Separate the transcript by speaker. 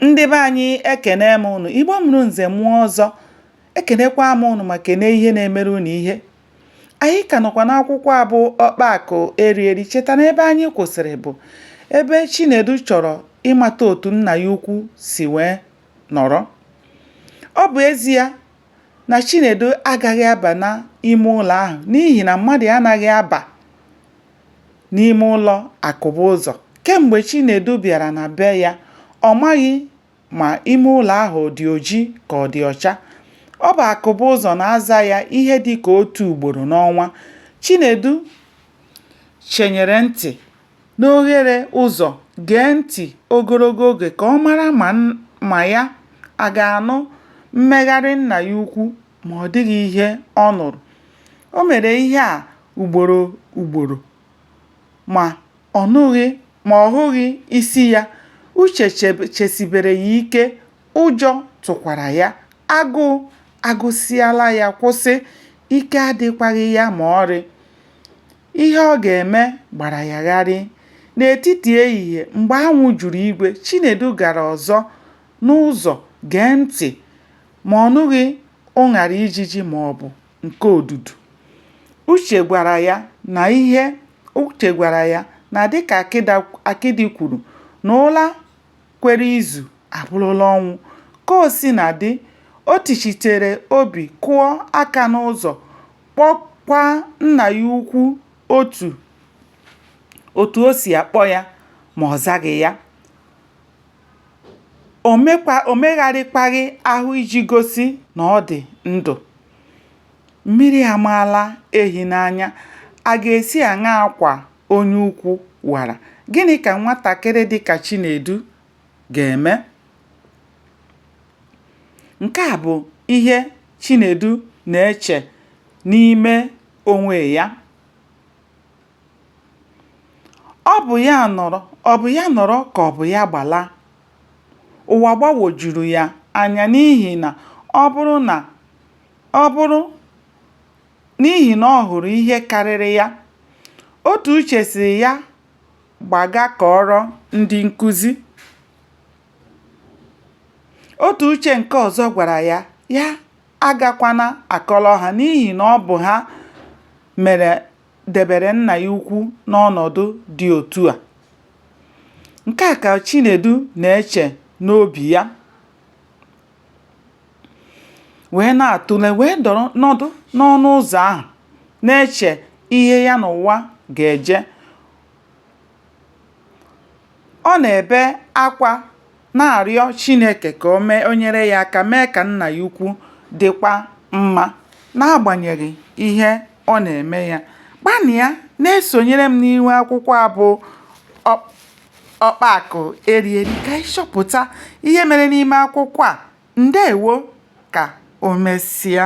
Speaker 1: Ndị be anyị ekene m ụnụ, Igbo mụrụ nze mụọ ọzọ, ekenekwa m ụnụ ma kene ihe na-emere ụnụ ihe. Anyị ka nọkwa n'akwụkwọ a bụ Ọkpaakụ Erieri cheta na ebe anyị kwụsịrị bụ ebe Chinedu chọrọ ịmata otu nna ya ukwu si wee nọrọ. Ọ bụ ezie na Chinedu agaghị aba n'ime ụlọ ahụ n'ihi na mmadụ anaghị aba n'ime ụlọ Akụbụzọ. Kemgbe Chinedu bịara na be ya, ọ maghị ma ime ụlọ ahụ ọ dị oji ka ọ dị ọcha. Ọ bụ Akụbụzọ na-aza ya ihe dị ka otu ugboro n'ọnwa. Chinedu chenyere ntị n'oghere ụzọ gee ntị ogologo oge ka ọ mara ma ya a ga-anụ mmegharị nna ya ukwu. ma ọ dịghị ihe ọ nụrụ. O mere ihe a ugboro ugboro, ma ọ nụghị ma ọ hụghị isi ya. Uche chesibere ya ike, ụjọ tụkwara ya. Agụụ agụsịala ya kwụsị, ike adịkwaghị ya ma ọrị. Ihe ọ ga-eme gbara ya gharị. N'etiti ehihie, mgbe anwụ juru igwe, Chinedu gara ọzọ n'ụzọ gee ntị. ma ọ nụghị ụṅara ijiji ma ọ bụ nke odudu. Uche gwara ya na ihe Uche gwara ya na dịka akịdị kwuru na ụla kwere izu abụrụla ọnwụ. Ka o sina dị, o tichitere obi kụọ aka n'ụzọ kpọkwa nna ya ukwu otu o si akpọ ya ma ọ zaghị ya. o megharịkwaghị ahụ iji gosi na ọ dị ndụ. Mmiri amaala ehi n'anya, a ga-esi aṅaa kwa onye ukwu wara? Gịnị ka nwatakịrị dị ka Chinedu ga-eme? Nke a bụ ihe Chinedu na-eche n'ime onwe ya. Ọ bụ ya nọrọ, ọ bụ ya nọrọ ka ọ bụ ya gbala. Ụwa gbagwojuru ya anya n'ihi na ọ bụrụ na ọ bụrụ n'ihi na ọ hụrụ ihe karịrị ya. Otu uche sịrị ya gbaga kọọrọ ndị nkụzi. Otu uche nke ọzọ gwara ya ya agakwana akọrọ ha n'ihi na ọ bụ ha mere debere nna ya ukwu n'ọnọdụ dị otu a. Nke a ka Chinedu na-eche n'obi ya wee na-atụle wee dọrọ nọdụ n'ọnụ ụzọ ahụ na-eche ihe ya na ụwa ga-eje. Ọ na-ebe akwa na-arịọ Chineke ka o nyere ya aka mee ka nna ya ukwu dịkwa mma n'agbanyeghị ihe ọ na-eme ya. Gbanịa na-esonyere m n'ihu akwụkwọ a bụ Ọkpa Akụ Eri Eri ka anyị chọpụta ihe mere n'ime akwụkwọ a. Ndewo ka o mesịa.